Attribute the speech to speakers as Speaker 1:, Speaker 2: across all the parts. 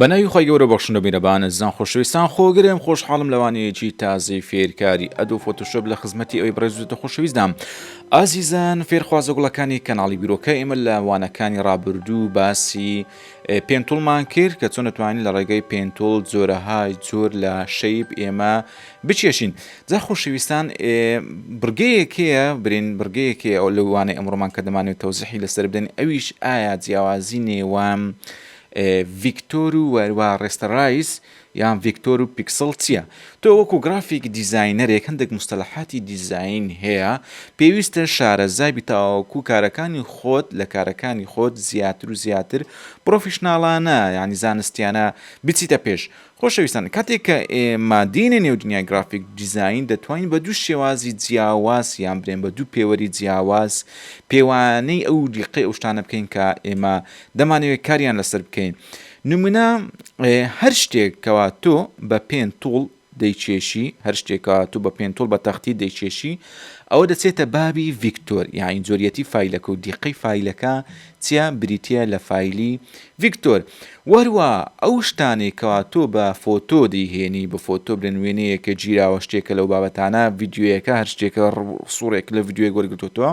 Speaker 1: بەناوی خۆی گەورە بەخشنە بیرەبانە زان خۆشەویستان خۆگرێم خۆشحاڵم لەوانەیەکی تازەی فێرکاری ئەدو فۆتوشب لە خزمەتی ئەوی بڕێزوتە خۆشەویستدام ئازیزان فێرخوازە گوڵەکانی کەناڵی بیرۆکە ئێمە لە وانەکانی ڕابردوو باسی پێنتوڵمان کرد کە چۆن توانین لە ڕێگەی پێنتوڵ جۆرەهای جۆر لە شەیب ئێمە بچێشین جا خۆشەویستان بڕگەیەکەیە برین بڕگەیەکی ئەو لەوانەی ئەمڕۆمان کە دەمانێت تەوزیحی لەسەر بدەین ئەویش ئایا جیاوازی نێوان ڤیکتۆر و وەروا ڕێستەڕایز یان ڤیکتۆر و پیکسڵ چیە؟ تۆ وەکو گرافیک دیزاینەرێک هەندێک موستەلەحاتی دیزاین هەیە پێویستە شارەزا بیت تاوەکو کارەکانی خۆت لە کارەکانی خۆت زیاتر و زیاتر پڕۆفیشناڵانە یانی زانستیانە بچیتە پێش خۆشەویستان کاتێک کە ئێمە دێینە نێو دنیای گرافیک دیزاین دەتوانین بە دوو شێوازی جیاواز یان برێن بە دوو پێوەری جیاواز پێوانەی ئەو دیقەی ئەو شتانە بکەین کە ئێمە دەمانەوێت کاریان لەسەر بکەین نمونە، هەر شتێک کەوا تۆ بە پێن توڵ دەیکێشی هەر شتێکا تو بە پێن توڵ بە تەختی دەیکێشی ئەوە دەچێتە بابی ڤیکتۆر یاین جۆریەتی فیلەکە و دیقەی فیلەکە چیا بریتە لە فیلی ڤیکتۆر وەروە ئەو شتانێکەوە تۆ بە فۆتۆ دەیهێنی بە فۆتۆ برن وێنەیەکە گیراوە شتێکە لەو بابەتانە یددیوەکە هەر شتێکە سوڕێک لە یددیوەک وەرگتوتەوە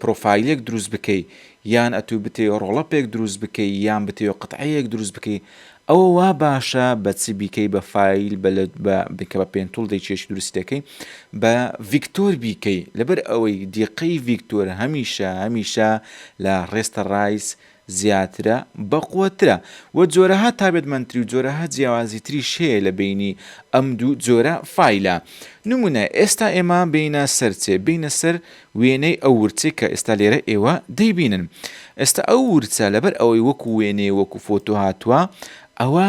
Speaker 1: پرۆفایلێک دروست بکەی یان ئەتوو بتەوێ ڕۆڵەپێک دروست بکەی یان بتەوێ قتعەیەک دروست بکەی ئەوە وا باشە بە چ بیکەی بە فایل بە بکە بە پێنتول دەی چێشی دروستەکەی بە ڤیکتۆر بیکەی لەبەر ئەوەی دیقەی ڤیکتۆر هەمیشە هەمیشە لە ڕێستە ڕایس زیاترە، بەقوەترە، وە جۆرەها تابێتمەندتری و جۆرەها جیاوازی تریش هەیە لە بەینی ئەم دوو جۆرە فایلە. نمونە، ئێستا ئێمە بێینە سەرچێ، بێینە سەر وێنەی ئەو ورچەی کە ئێستا لێرە ئێوە دەیبینن. ئێستا ئەو ورچە لەبەر ئەوەی وەکو وێنەیە وەکو فۆتۆ هاتوە ئەوە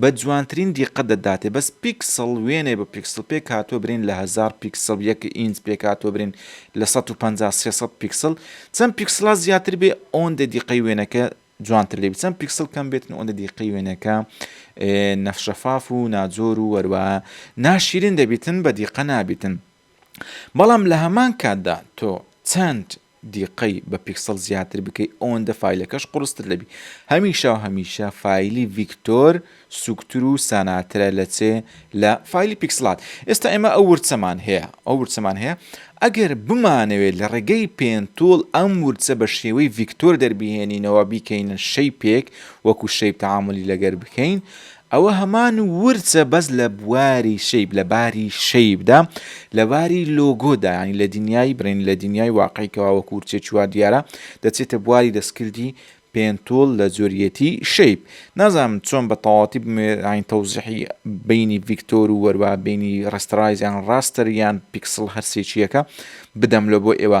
Speaker 1: بە جوانترین دیقەت دەداتێ بەس پیکسڵ وێنەی بە پیکسڵ پێکهاتووە برین لە هەزار پیکسڵ یەک ئینچ پێکهاتووە برین لە سەد و پەنجا سێ سەد پیکسڵ چەند پیکسڵا زیاتر بێ ئەوەندە دیقەی وێنەکە جوانتر لێبی چەند پیکسڵ کەم بێتن ئەوەندە دیقەی وێنەکە نەفشەفاف و ناجۆر و وەروە ناشیرین دەبیتن بە دیقە نابیتن بەڵام لە هەمان کاتدا تۆ چەند دیقەی بە پیکسڵ زیاتر بکەی ئەوەندە فایلەکەش قوڕستر دەبی هەمیشە و هەمیشە فایلی ڤیکتۆر سوکتر و ساناترە لە چێ لە فایلی پیکسڵات ئێستا ئێمە ئەو ورچەمان هەیە ئەو ورچەمان هەیە ئەگەر بمانەوێت لە ڕێگەی پێنتوڵ ئەم ورچە بە شێوەی ڤیکتۆر دەربهێنینەوە بیکەینە شەیپێک وەکو شەیپ تەعامولی لەگەر بکەین ئەوە هەمان ورچە بەس لە بواری شەیب لە باری شەیبدا لە باری لۆگۆدا یانی لە دنیای برین لە دنیای واقعی کەوا وەکو ورچەی چوار دیارە دەچێتە بواری دەستکردی پێنتوڵ لە جۆریەتی شەیب نازانم چۆن بە تەواوەتی بمێ یانی تەوزیحی بینی ڤیکتۆر و وەروا بینی ڕێستەرایز یان ڕاستەر یان پیکسڵ هەر سێکییەکە بدەم لۆ بۆ ئێوە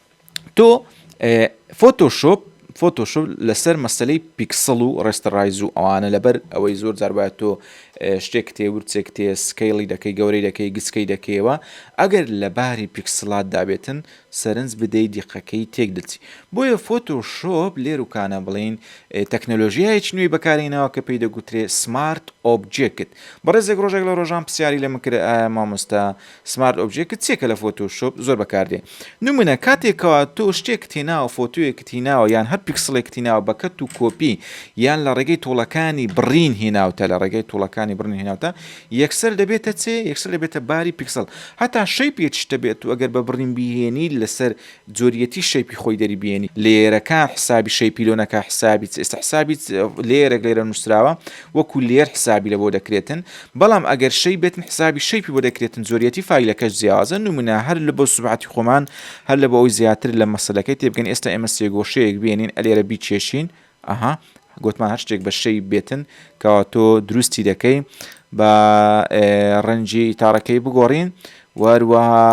Speaker 1: تۆ فۆتۆ شۆپ فۆتۆشۆپ لەسەر مەسلەی پیکسڵ و ڕێستەڕایز و ئەوانە لەبەر ئەوەی زۆر جاربات تۆ شتێک تێ ورچێک تێ سکەیڵی دەکەی گەورەی دەکەی گچکەی دەکەیەوە ئەگەر لە باری پیکسلات دابێتن سەرنج بدەی دیقەکەی تێک دەچی بۆیە فۆتۆ شۆپ لێروکانە بڵین تەکنەلۆژیایەک نوێی بەکارینەوە کە پێی دەگوترێ سمارت ئۆبجێکت بەڕێزێک ڕۆژێک لە ڕۆژان پرسیاری لە مکرە ئایا مامۆستا سمارت ئۆبجێکت چیە کە لە فۆتۆ شۆپ زۆر بەکار دێ نمونە کاتێک کەوا تۆ شتێکت هێناوە فۆتۆیەکت هیناوە یان هەر پیکسڵێکت هیناوە بە کەت و کۆپی یان لە ڕێگەی توڵەکانی بڕین هیناوتە لە ڕێگەی توڵەکانی بڕین هیناوتە یەکسەر دەبێتە چێ یەکسەر دەبێتە باری پیکسڵ هەتا شەی پێچشتە بێت و ئەگەر بە بڕین بیهێنی لەسەر جۆریەتی شەیپی خۆی دەری بێنی لێرەکان حسابی شەی پیلۆنەکە حسابیت ئێستا حسابیت لێرەێک لێرە نووسراوە وەکو لێر حسابی لە بۆ دەکرێتن بەڵام ئەگەر شەی بێتن حسابی شەیپی بۆ دەکرێتن زۆریەتی فیلەکەش جیاوازە نمونە هەر لە بۆ سوبعاتی خۆمان هەر لە بۆ ئەوی زیاتر لە مەسلەکەی تێبگەن ئێستا ئێمە سێگۆشەیەک بێنین ئەلێرە بیچێشین ئەها گۆتمان هەر شتێک بە شەی بێتن کەوا تۆ دروستی دەکەی بە ڕەنجی تاڕەکەی بگۆڕین وەروەها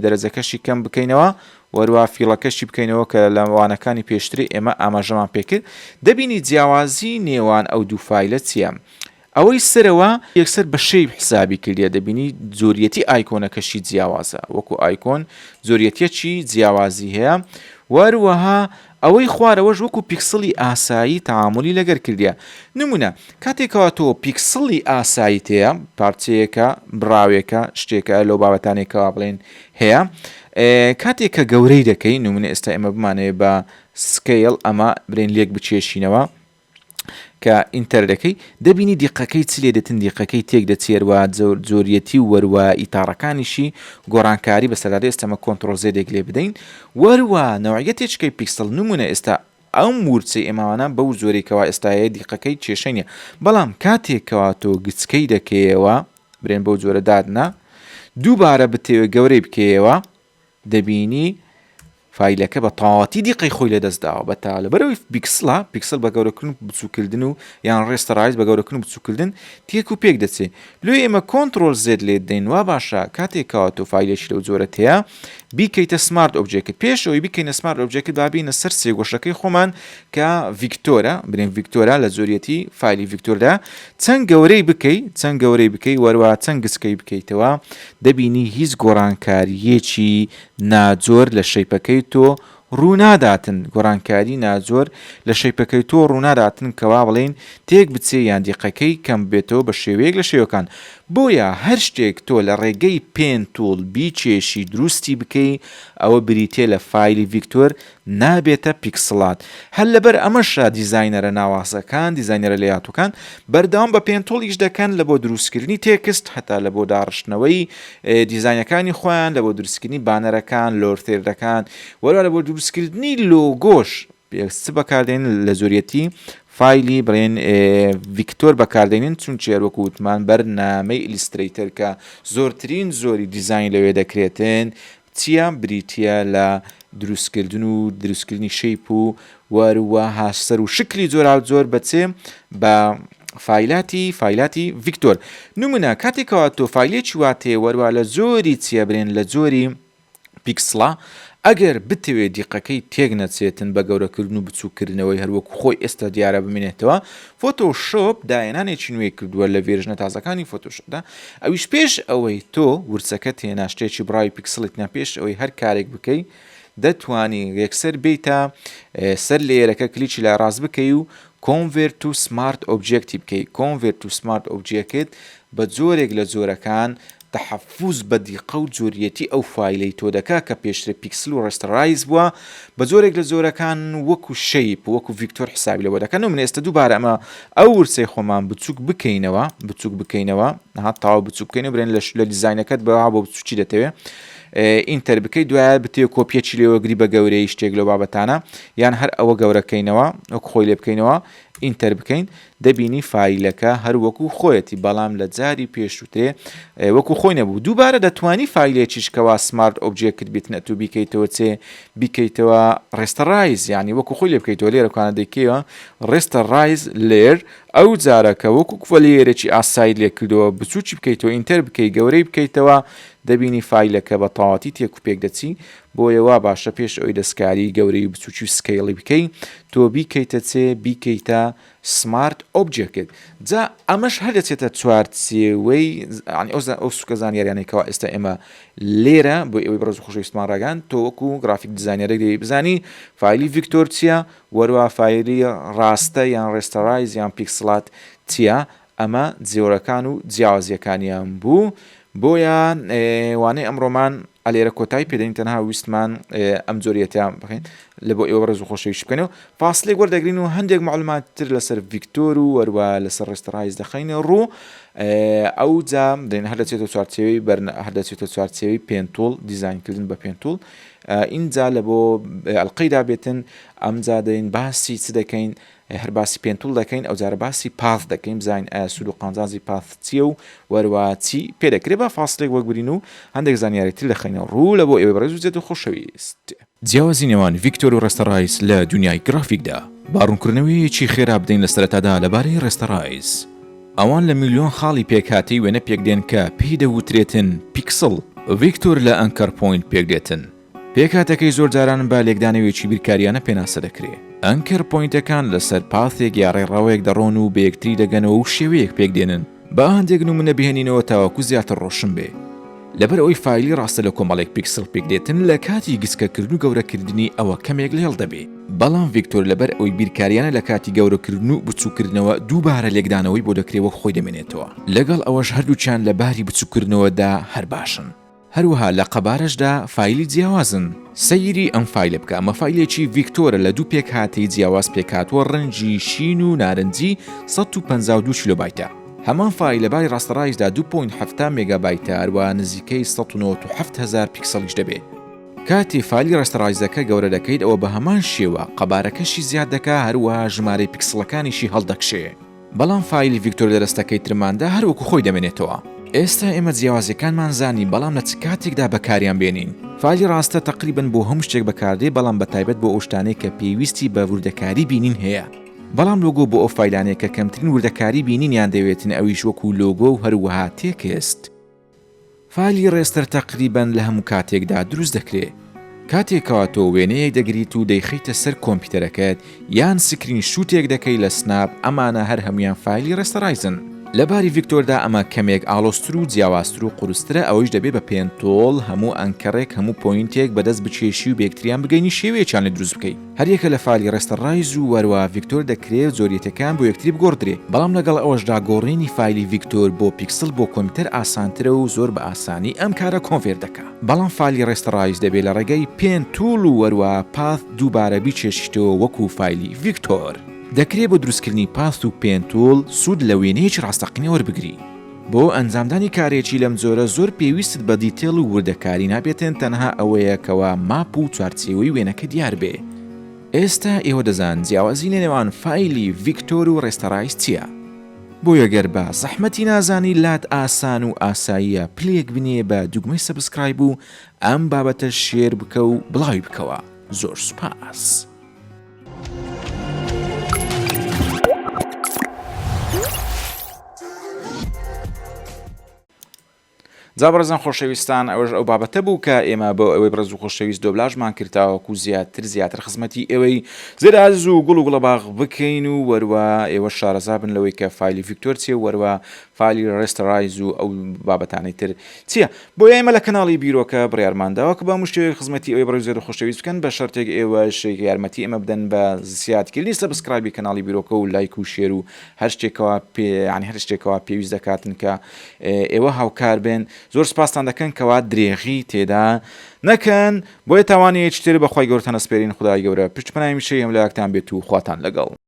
Speaker 1: دەرەجەکەشی کەم بکەینەوە وەروە فیڵەکەشی بکەینەوە کە لە وانەکانی پێشتری ئێمە ئاماژەمان پێکرد دەبینی جیاوازی نێوان ئەو دوو فیلە چییە؟ ئەوەی سەرەوە یەکسەر بە شەیپ حسابی کردیە دەبینی جۆریەتی ئایکۆنەکەشی جیاوازە وەکو ئایکۆن جۆریەتیەکی جیاوازی هەیە وەروەها ئەوەی خوارەوەش وەکو پیکسڵی ئاسایی تەعامولی لەگەر کردیە نمونە کاتێک کەوا تۆ پیکسڵی ئاساییت هەیە پارچەیەکە بڕاوێکە شتێکە لەو بابەتانێک کەوا بڵێن هەیە کاتێک کە گەورەی دەکەی نمونە ئێستا ئێمە بمانەوێت بە سکەیڵ ئەمە برێن لێک بچێشینەوە کە ئینتەر دەکەی دەبینی دیقەکەی چ لێ دێتن دیقەکەی تێک دەچێر و جۆر جۆریەتی و وەروا ئیتاڕەکانیشی گۆڕانکاری بە سەر دادێ ئێستەمە کۆنتڕۆڵ زێدێک لێ بدەین وەروا نەوعیە تێچکەی پیکسڵ نمونە ئێستا ئەم ورچەی ئێماوانە بەو جۆرەی کەوا ئێستاەیە دیقەکەی کێشەی نیە بەڵام کاتێک کەوا تۆ گچکەی دەکەیەوە برێن بەو جۆرە دادنا دووبارە بتەوێ گەورەی بکەیەوە دەبینی فایلەکە بە تەواوەتی دیقەی خۆی لەدەست داوە بە تا لەبەرەوەی بیکسلا پیکسل بە گەورەکردن و بچووکردن و یان ڕێستە ڕایز بە گەورەکردن و بچووکردن تێک و پێک دەچێ لۆ ئێمە کۆنتترۆل زێت لێ دەین وا باشە کاتێکەوە تۆ فیلێکی لەو جۆرەت هەیە بیکەیتە سمارت ئۆبجێکت پێشەوەی بکەینە سمارت ئۆبجێکت بابینە سەر سێگۆشەکەی خۆمان کە ڤیکتۆرە بنێن ڤیکتۆرا لە زۆریەتی فیلی ڤیکتۆردا چەند گەورەی بکەی چەند گەورەی بکەی وەروا چەند گچکەی بکەیتەوە دەبینی هیچ گۆڕانکارییەکی ناجۆر لە شەیپەکەی تۆ ڕووناداتن گۆڕانکاری ناجۆر لە شەیپەکەی تۆ ڕووناداتن کەوا بڵێین تێک بچێ یان دیقەکەی کەم بێتەوە بە شێوەیەک لە شێوەکان بۆیە هەر شتێک تۆ لە ڕێگەی پێن توڵ بیکێشی دروستی بکەی ئەوە بریتیە لە فایلی ڤیکتۆر نابێتە پیکسڵات هەر لەبەر ئەمەشە دیزاینەرە ناوازەکان دیزاینەرە لەیاتوەکان بەردەوام بە پێنتوڵ ئیش دەکەن لە بۆ دروستکردنی تێکست هەتا لە بۆ داڕشتنەوەی دیزاینەکانی خۆیان لە بۆ دروستکردنی بانەرەکان لۆرتێردەکان وەرا لە بۆ دروستکردنی لۆگۆش پێست بەکاردێن لە زۆریەتی فایلی بڵێن ڤیکتۆر بەکاردێنین چون چێر وەکو وتمان بەرنامەی ئیلیستریتەر کە زۆرترین زۆری دیزین لەوێ دەکرێتن چیا بریتیە لە دروستکردن و دروستکردنی شەیپ و وەروەها سەر و شکلی جۆراوجۆر بە چێ بە فایلاتی فایلاتی ڤیکتۆر نمونە کاتێکەوە تۆ فایلێکی واتێ وەروە لە جۆری چیە برێن لە جۆری پیکسڵە ئەگەر بتەوێت دیقەکەی تێک نەچێتن بە گەورەکردن و بچووکردنەوەی هەروەکو خۆی ئێستا دیارە بمێنێتەوە فۆتۆ شۆپ داهێنانێکی نوێی کردووە لە ڤێرژنە تازەکانی فۆتۆ شۆپدا، ئەویش پێش ئەوەی تۆ ورچەکەت هێنا شتێکی بڕاوی پیکسڵیت نا پێش ئەوەی هەر کارێک بکەی دەتوانی یەکسەر بێیتە سەر لێیەرەکە کلیکی لای ڕاست بکەی و کۆنڤێرت تو سمارت ئۆبجێکتی بکەی کۆنڤێرت تو سمارت ئۆبجێکت بە جۆرێک لە جۆرەکان تەحەفوز بە دیقە و جۆریەتی ئەو فایلەی تۆ دەکا کە پێشتر پیکسل و ڕێستەرایز بوە بە جۆرێک لە جۆرەکان وەکو شەیپ وەکو ڤیکتۆر حسابی لەوە دەکەن و من ئێستە دووبارە ئەمە ئەو ورچەی خۆمان بچوک بکەینەوە بچوک بکەینەوە ها تاو بچوک بکەین و برێن لەش لە دیزاینەکەت بە بۆ بچوکی دەتەوێ ئینتەر بکەی دوایە بتێ کۆپیەکی لێوە گری بە گەورەی شتێک لە بابەتانە یان هەر ئەوە گەورەکەینەوە وەک خۆی لێ بکەینەوە ئینتەر بکەین دەبینی فایلەکە هەر وەکو خۆیەتی بەڵام لە جاری پێش وترێ وەکو خۆی نەبوو دووبارە دەتوانی فایلێکیش کەوا سمارت ئۆبجێکت بیت نەتوو بیکەیتەوە چێ بیکەیتەوە ڕێستە ڕایز یعنی وەکو خۆی لێ بکەیتەوە لێرە کانە دەیکەوە ڕێستە ڕایز لێر ئەو جارەکە وەکو کوەلیەرێکی ئاسایی لێ کردەوە بچووکی بکەیتەوە ئینتەر بکەی گەورەی بکەیتەوە دەبینی فایلەکە بە تەواتی تێک و پێک دەچی بۆیە وا باشە پێش ئەوەی دەستکاری گەورەی و بچوکی و سکەیڵی بکەی تۆ بیکەیتە چێ بیکەیتە سمارت ئۆبجێکت جا ئەمەش هەر دەچێتە چوار چێوەی ئەو ئەو سوکە زانیاریانەی کەوا ئێستا ئێمە لێرە بۆ ئەوەی بەڕز خۆشەویستمان ڕگان تۆ وەکو گرافیک دیزانیارێک دەی بزانی فیلی ڤیکتۆر چییە وەروە فیلی ڕاستە یان ڕێستەڕایز یان پیکسلات چییە ئەمە جۆرەکان و جیاوازیەکانیان بوو بۆیە وانەی ئەمڕۆمان ئەلێرە کۆتای پێدەین تەنها ویستمان ئەم جۆریەتیان بخین لە بۆ ئێوە ڕێز و خۆشەویش بکەن و فاصلێک وەردەگرین و هەندێک معلومات تر لەسەر ڤیکتۆر و وەروە لەسەر ڕێستڕایز دەخینە ڕوو ئەو جام دێن هەر دەچێتە چوارچێوی بەرن هەر دەچێتە چوارچێوی پێنتول دیزانکردن بە پێنتول ئینجا لە بۆ ئەلقەیدا بێتن ئەمجا دەین باسی چ دەکەین ئەی هەر باسی پێنتوڵ دەکەین ئەوجارە باسی پاث دەکەین بزانین ئایا سوود و قازانجی پاث چییە و وەروا چی پێ دەکرێ با فاسلێک وەگبرین و هەندێک زانیاری تر دەخەینە ڕوو لە بۆ ئێوەی بەڕێز و جێت و خۆشەویست. جیاوازی نێوان ڤیکتۆر و ڕێستەڕایس لە دونیای گرافیکدا. با ڕوونکردنەوەیەکی خێرا بدەین لە سەرەتادا لەبارەی ڕێستەڕایس. ئەوان لە میلیۆن خاڵی پێکهاتەی وێنە پێکدێن کە پێی دەوترێتن پیکسڵ، ڤیکتۆر لە ئەنکەر پۆینت پێکدێتن. پێکهاتەکەی زۆر جاران بە لێکدانەوێکی بیرکاریانە پێناسە دەکرێ. ئەنکەر پۆینتەکان لەسەر پاثێک یا ڕێڕەوێک دەڕۆن و بەیەکتری دەگەنەوە و شێوەیەک پێک دێنن. با هەندێک نمونە بهێنینەوە تاوەکو زیاتر ڕۆشن بێ. لەبەر ئەوەی فایلی ڕاستە لە کۆمەڵێک پیکسڵ پێک دێتن لە کاتی گچکەکردن و گەورەکردنی ئەوە کەمێک لێڵ دەبێ. بەڵام ڤیکتۆر لەبەر ئەوەی بیرکاریانە لە کاتی گەورەکردن و بچوککردنەوە دووبارە لێکدانەوەی بۆ دەکرێ وەک خۆی دەمێنێتەوە. لەگەڵ ئەوەش هەردووکیان لە باری بچوککردنەوە دا هەر باشن. هەروەها لە قەبارەشدا فایلی جیاوازن. سەیری ئەم فایلە بکە ئەمە فایلێکی ڤیکتۆرە لە دوو پێکهاتەی جیاواز پێکهاتووە ڕەنگی شین و نارنجی سەد و پەنجا و دوو کیلۆبایتە. هەمان فایل لە باری ڕاستەڕایشدا دوو پۆینت حەفتا مێگابایتە هەروەها نزیکەی سەد و نەوەد و حەفت هەزار پیکسڵیش دەبێت. کاتێ فایلی ڕاستەڕایزەکە گەورە دەکەیت ئەوە بە هەمان شێوە قەبارەکەشی زیاد دەکا هەروەها ژمارەی پیکسڵەکانیشی هەڵدەکشێ. بەڵام فایلی ڤیکتۆر لەرستەکەی ترماندا هەر وەکو خۆی دەمێنێتەوە. ئێستا ئێمە جیاوازیەکانمان زانی بەڵام لە چ کاتێکدا بەکاریان بێنین. فایلی ڕاستە تەقریبەن بۆ هەموو شتێک بەکاردێ بەڵام بە تایبەت بۆ ئەو شتانەی کە پێویستی بە وردەکاری بینین هەیە. بەڵام لۆگۆ بۆ ئەو فایلانەی کە کەمترین وردەکاری بینینیان دەوێتن ئەویش وەکو لۆگۆ و هەروەها تێکست. فالی ڕێستەر تەقریبەن لە هەموو کاتێکدا دروست دەکرێت کاتێکەوە تۆ وێنەیەک دەگریت و دەیخەیتە سەر کۆمپیتەرەکەت یان سکرین شوتێک دەکەی لە سناپ ئەمانە هەر هەموویان فایلی ڕێستەرایزن لە باری ڤیکتۆردا ئەمە کەمێک ئاڵۆزتر و جیاوازتر و قورسترە ئەوەیش دەبێت بە پێنتۆڵ هەموو ئەنکەرێک هەموو پۆینتێک بەدەست بکێشی و بەیەکتریان بگەینی شێوەیەکیان لێ دروست بکەی. هەریەکە لە فالی ڕێستەڕایز و وەروا ڤیکتۆر دەکرێ زۆریەتەکان بۆ یەکتری بگۆڕدرێ، بەڵام لەگەڵ ئەوەشدا گۆڕینی فایلی ڤیکتۆر بۆ پیکسڵ بۆ کۆمپیوتەر ئاسانترە و زۆر بە ئاسانی ئەم کارە کۆنڤێرت دەکا. بەڵام فالی ڕێستەڕایز دەبێ لە ڕێگای پێن تووڵ و وەروا پاث دووبارە بیچێشیتەوە وەکوو فایلی ڤیکتۆر. دەکرێ بۆ دروستکردنی پاث و پێن تووڵ سوود لە وێنەیەکی ڕاستەقینە وەربگری. بۆ ئەنجامدانی کارێکی لەم جۆرە زۆر پێویستت بە دیتێڵ و وردەکاری نابێتن تەنها ئەوەیە کەوا ماپ و چوارچێوەی وێنەکە دیار بێ ئێستا ئێوە دەزان جیاوازی لە نێوان فایلی ڤیکتۆر و ڕێستەرایز چیە بۆیە گەر بە زەحمەتی نازانی لات ئاسان و ئاساییە پلەیەک بنێ بە دوگمەی سەبسکرایب و ئەم بابەتە شێر بکە و بڵاوی بکەوە زۆر سوپاس. جا بەڕزان خۆشەویستان ئەوەش ئەو بابەتە بوو کە ئێمە بۆ ئەوەی بڕز و خۆشەویست دۆبلاژمان کردتاوەکو زیاتر زیاتر خزمەتی ئێوەی زێراز و گوڵ و گوڵە باغ بکەین و وەروە ئێوە شارەزا بن لەوەی کە فیلی ڤکتۆر چێ وەروە فایلی ڕێستەرایز و ئەو بابەتانەی تر چیە؟ بۆیە ئێمە لە کەناڵی بیرۆکە بڕیارمان داوە کە بە هەموو شێوەیەک خزمەتی ئەوی بڕێوزێر و خۆشەویست بکەن بە شەرتێک ئێوەش یارمەتی ئێمە بدەن بە زسیادکردنی سەبسکرایبی کەناڵی بیرۆکە و لایک و شێر و هەر شتێکەوە پێ یانی هەر شتێکەوە پێویست دەکاتن کە ئێوە هاوکار بێن زۆر سپاستان دەکەن کەوا درێغی تێدا نەکەن بۆیە تاوانەیەکی تر بە خوای گەورەتان ئەسپێرین خودای گەورە پشت پەنای میشەی هەملاکتان بێت و خواتان لەگەڵ.